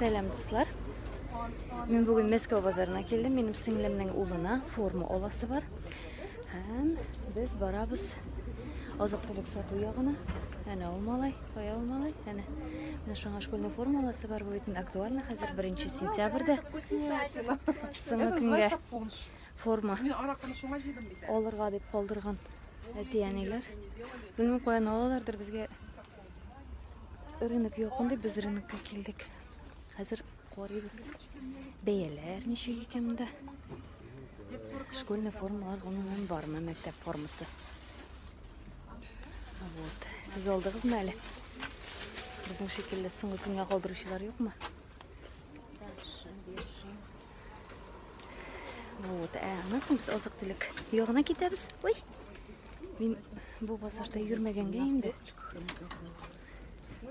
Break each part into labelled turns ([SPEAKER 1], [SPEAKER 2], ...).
[SPEAKER 1] Сәлам, дуслар. Мин бүген Мәскәү базарына килдем. Минем сеңлемнең улына форма аласы бар. Һәм без барабыз азык-төлек сату ягына. Әнә ул малай, кая ул малай? Әнә. Менә шуңа школьный форма аласы бар бу битен актуально хәзер 1 сентябрьдә. Соңгы көнгә форма. Мин аракыны шуңа җыйдым бит. Алырга дип калдырган әти-әниләр. Белмим, каян алалардыр безгә Рынок якын дип без рынокка килдек. Хәзер карыйбыз. Бәяләр ничек икән монда? Школьный формалар гомумән бармы мәктәп формасы? Вот. Сез алдыгызмы әле? Безнең шикелле соңгы көнгә калдыручылар юкмы? Вот. Ә, аннан соң без азык-төлек ягына китәбез. Ой! Мин бу базарда йөрмәгәнгә инде.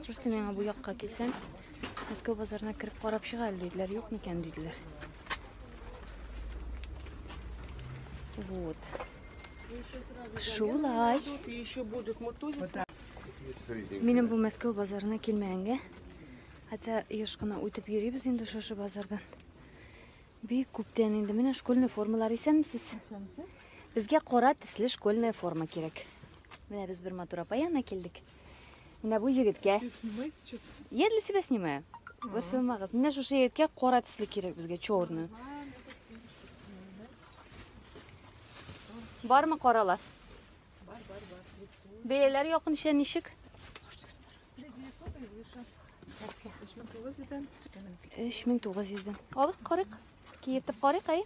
[SPEAKER 1] Шушты миңа бу якка килсәм, Мәскәү базарына кереп карап чыга әле диделәр, юк микән диделәр. Вот. Шулай. Минем бу Мәскәү базарына килмәгәнгә. Хотя еш кына үтеп йөрибез инде шушы базардан. Бик күптән инде менә школьный формалар исәнмесез. Исәнмесез. Безгә кара төсле школьная форма кирәк. Менә без бер матур апа янына килдек. Менә бу егеткә. Я для себя снимаю. Бер сылмагыз. Менә шушы егеткә кара төсле кирәк безгә черный. Бармы каралар? Бар, бар, бар. Бәяләр якынча ничек? Өч мең тугыз йөздән. Алык карык. Киетеп карык, әй.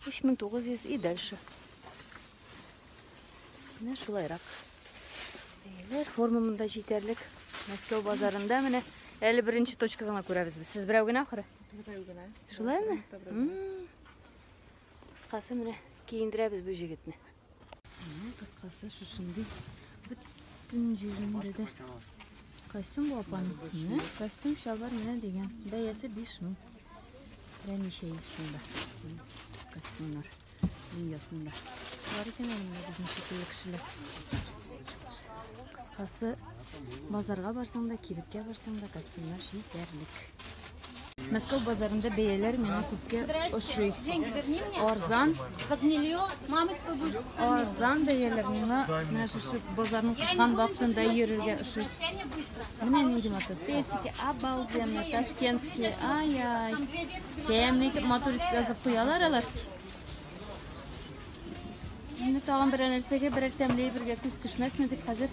[SPEAKER 1] Өч мең тугыз йөз и дальше. Менә шулайрак. Бәяләр форма монда җитәрлек. Мәскәү базарында менә әле беренче точка гына күрәбез без. Сез берәү генә ахыры? Берәү генә. Шулаймы? Кыскасы менә киендерәбез бу җегетне. Кыскасы шушындый бөтен җирендә дә костюм бу апаның. Менә костюм шалбар менә дигән. Бәясе 5 мең. Менә ничә йөз шунда. Костюмнар дөньясында. Бар икән инде безнең шикелле кешеләр. Кыскасы базарга барсаң да, кибеткә барсаң да костюмнар җитәрлек. Мәскәү базарында бәяләр миңа күпкә ошый. Арзан. Арзан бәяләр миңа менә шушы базарның кыскан вакытында йөрергә ошый. Менә нинди матур. Персики обалденно, ташкентские. Ай-ай. Тәмле итеп матур итеп язып куялар алар. Инде тагын берәр нәрсәгә, берәр тәмле бергә күз төшмәсме дип хәзер.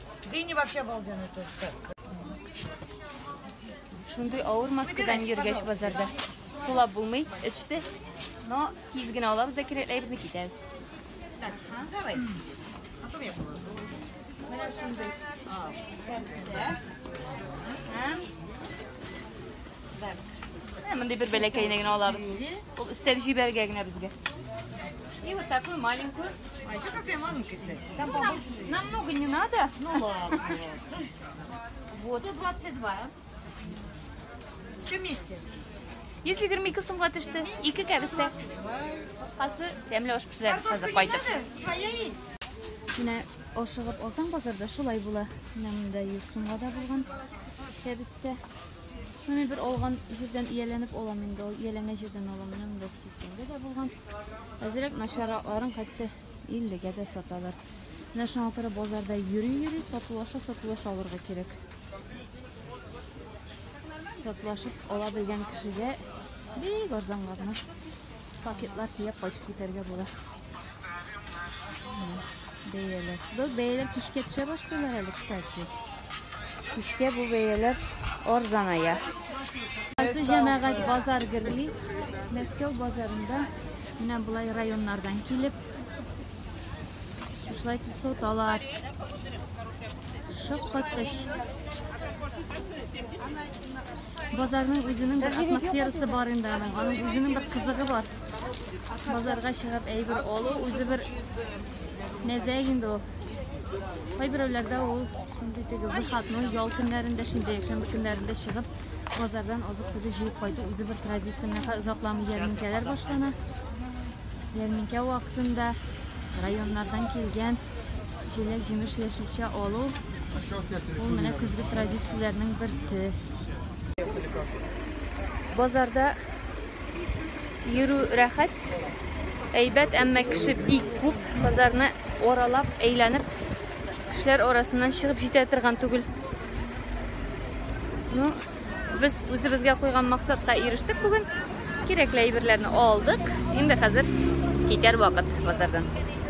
[SPEAKER 1] Дыни
[SPEAKER 2] вообще обалденный тоже.
[SPEAKER 1] Шундый авыр маскадан йөргәч базарда. Сулап булмый, эссе. Но тиз генә алабыз да кирәкләйбезне китәбез. Так, ха, давай.
[SPEAKER 2] А то я положу.
[SPEAKER 1] Менә шундый. А, Мондый бер бәләкәйне генә алабыз. Ул өстәп җибәргә генә безгә. И вот такую маленькую. А еще какая
[SPEAKER 2] маленькая? Там ну, нам, намного
[SPEAKER 1] не надо.
[SPEAKER 2] Ну ладно. Вот, и 22. Все вместе.
[SPEAKER 1] 122 сумга төште. Ике кәбестә. Кыскасы, тәмле аш пешерәбез хәзер кайтып. Своя
[SPEAKER 2] есть. Менә
[SPEAKER 1] ашыгып алсаң базарда шулай була. Менә монда 100 сумга да булган кәбестә. Шуны бер алган җирдән ияләнеп алам инде, ул ияләнгән җирдән алам, менә монда 80-гә дә булган. Әзрәк начаракларын хәтта 50-гә дә саталар. Менә шуңа күрә базарда йөри-йөри, сатулаша, сатулаша алырга кирәк. Сатулашып ала белгән кешегә бик арзанга гына Пакетлар төяп кайтып китәргә була. Бәяләр. Бу бәяләр кичкә төшә башлыйлар әле, кстати. Кичкә бу бәяләр арзаная. Хәзер җәмәгать базар гөрли. Мәскәү базарында менә болай районнардан килеп шулай соталар. Шаккаткыч. Базарның үзенең бер атмосферасы бар инде аның, аның үзенең бер кызыгы бар. Базарга чыгып әйбер алу үзе бер мәзә инде ул. Кайберәүләрдә ул шундый теге выходной ял көннәрендә, шундый якшәмбе көннәрендә чыгып, базардан азык-төлек җыеп кайту үзе бер традиция. Менә озакламый ярминкәләр башлана. Ярминкә вакытында районнардан килгән җиләк җимеш яшелчә алу ул менә көзге традицияләрнең берсе. Базарда йөрү рәхәт, әйбәт, әмма кеше бик күп. Базарны оралап, әйләнеп, кешеләр арасыннан чыгып җитә торган түгел. Ну, Без үзебезгә куйган максатка ирештек бүген. Кирәкле әйберләрне алдык. Инде хәзер китәр вакыт базардан.